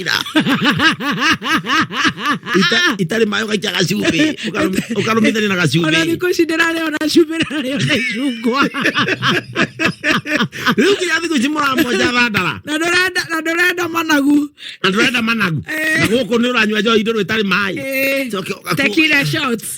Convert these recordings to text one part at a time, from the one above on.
ira Ita- itarĩ maĩ ũgaikia gacumbĩ ũkaru- ũkarũmithania na ona gacumbĩ thikå ici ndä rarä ona cumbä rarä ona icungwa rĩu nginya thikũ ici mũramonja thandara na ndå renda na ndå renda managu na ndũrenda managu Eh. na gũkũ nĩ ũranyua njohi ndũrũ ĩtarĩ maĩ Eh, Coke ũgaku- tequila shots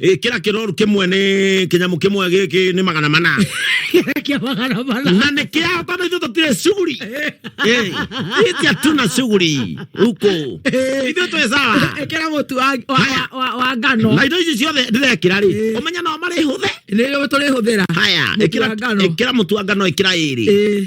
Eh, kira kiroru kimwe ni kinyamu kimwe giki ni magana mana kia magana mana na ni kia hata na ithuĩ tũtirĩ shughuli Eh, iti hatuna shughuli huko ithuĩ twĩ sawa ekera mutu wa wa- Haya. wa- wa- wa ngano na indo ici ciothe ndĩrekĩra rĩ Eh. ũmenya no marĩ hũthe nä rä tå rä hå thä ra haya Mũtu wa ngano. ĩkĩra mũtu wa ngano ĩkĩra ĩrĩ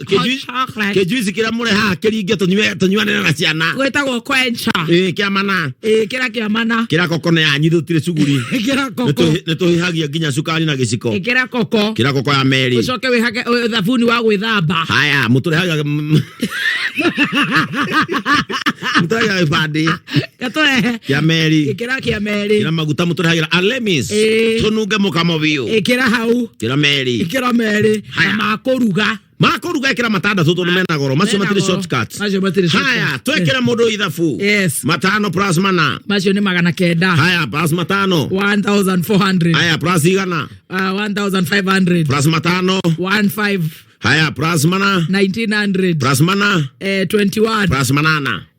kĩnjuici kĩrĩa mũrehaga kĩringe tũnyuanĩre na ciana gwĩtagwo kwencha kĩa mana kĩrĩa kĩa mana kĩrĩa koko na yanyu tũtirĩ cuguri nĩ tũhĩhagia nginya cukari na gĩciko kĩrĩa koko kĩrĩa koko ya meri ũcoke wĩhage thabuni wa gwĩthamba haya mũtũrehagia mũtũrehagia gĩbandĩ gatoe kĩa meri ikira kia meri kĩra maguta mũtũrehagĩra alemis Ĩĩ. tũnunge mũkamo biũ ikira hau kĩra meri ikira meri Haya. na makuruga makũruga ĩkĩra matandatũ tondũ mena goro macio Mena matirĩ goro. shortcuts Macio matirĩ shortcuts. haya twekĩre mũndũ ithabu Yes. matano plus mana macio ni magana kenda haya plus matano 1400 haya plus igana uh, 1500 plus matano 15 haya plus mana 1900 plus mana eh, 21 plus manana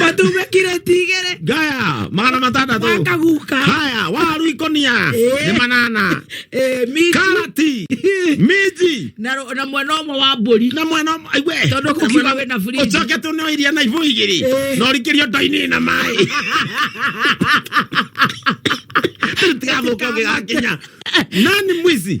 matume kiro tigere gaya magana matandatå wakaguka haya waru ikonia Eh. nä manana Eh, minji. karati minji na ro- na mwena ũmwe wa mbũri na mwena aiwe Tondũ kũkiuga wĩ na fridge. ucoke tå nä iria na ibå igä rä Eh. no rikiri o ndoinä na maä tigathå ka å gä gakinya nani mwizi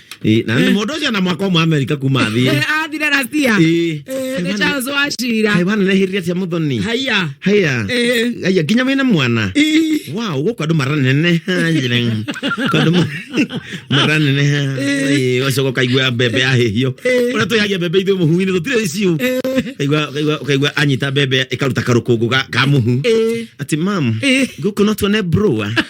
Eh, na nĩ mũndũ ũcio na mwaka ũmwe amerika kuma athiĩ Eh, athire rasia Eh. Eh, nĩ charles wachira Kaĩ wananehĩrire atia mũthoni haiya haya Eh. haya nginya wĩna mwana Ii. wow gũkũ andũ maraneneha njĩra Gũkũ andũ ma- maraneneha Ĩĩ, ũgacoka ũkaigua mbembe yahĩhio ũrĩa twĩhagia mbembe ithuĩ mũhu-inĩ tũtirĩ ciũ Ũkaigua- ũkaigua- ũkaigua anyita mbembe ĩkaruta karũkũngũ ga- ka mũhu Eh. ati mam Eh. gũkũ no tuone broa